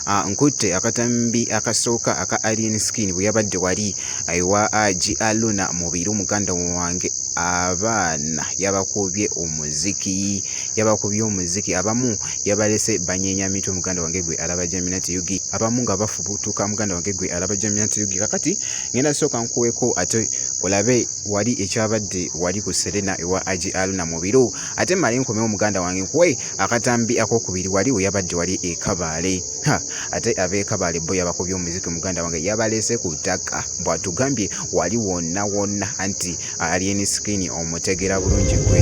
Ah, nkutte akatambi akasooka aka alien skin bwe yabadde wali ewa ah, gialuna mubiru muganda wange abaana yabakubye omuziki yabakubye omuziki abamu yabalese banyenya mitwe muganda wange gwe alaba jaminati yugi abamu nga bafubutuka muganda wange gwe alaba jaminati yugi kakati ngenda sooka nkuweko ate olabe wali ekyabadde wali ku serena ewa agi aluna mu biro ate male nkomeo omuganda wange nkuwe akatambi akokubiri wali weyabadde wali ekabaale ha ate abeekabaale bo yabakubye omuziki omuganda wange yabalese ku ttaka bwatugambye wali wonna wonna anti alieni sikini omutegera bulungi gwe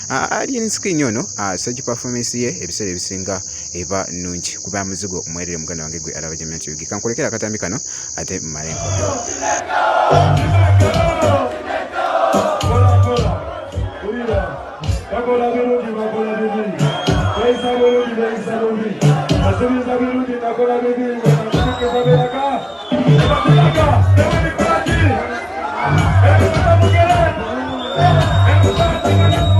Alien Skin ono stage performance ye ebiseera ebisinga eba nnungi kuba muzigo mwerere muganda wange gwe alaba Jamia Kiyugi kankulekera akatambi kano ate malengo bakola birungi bakola bibi bayisa bulungi bayisa bubi basubiza birungi nakola bibi baberaka baberaka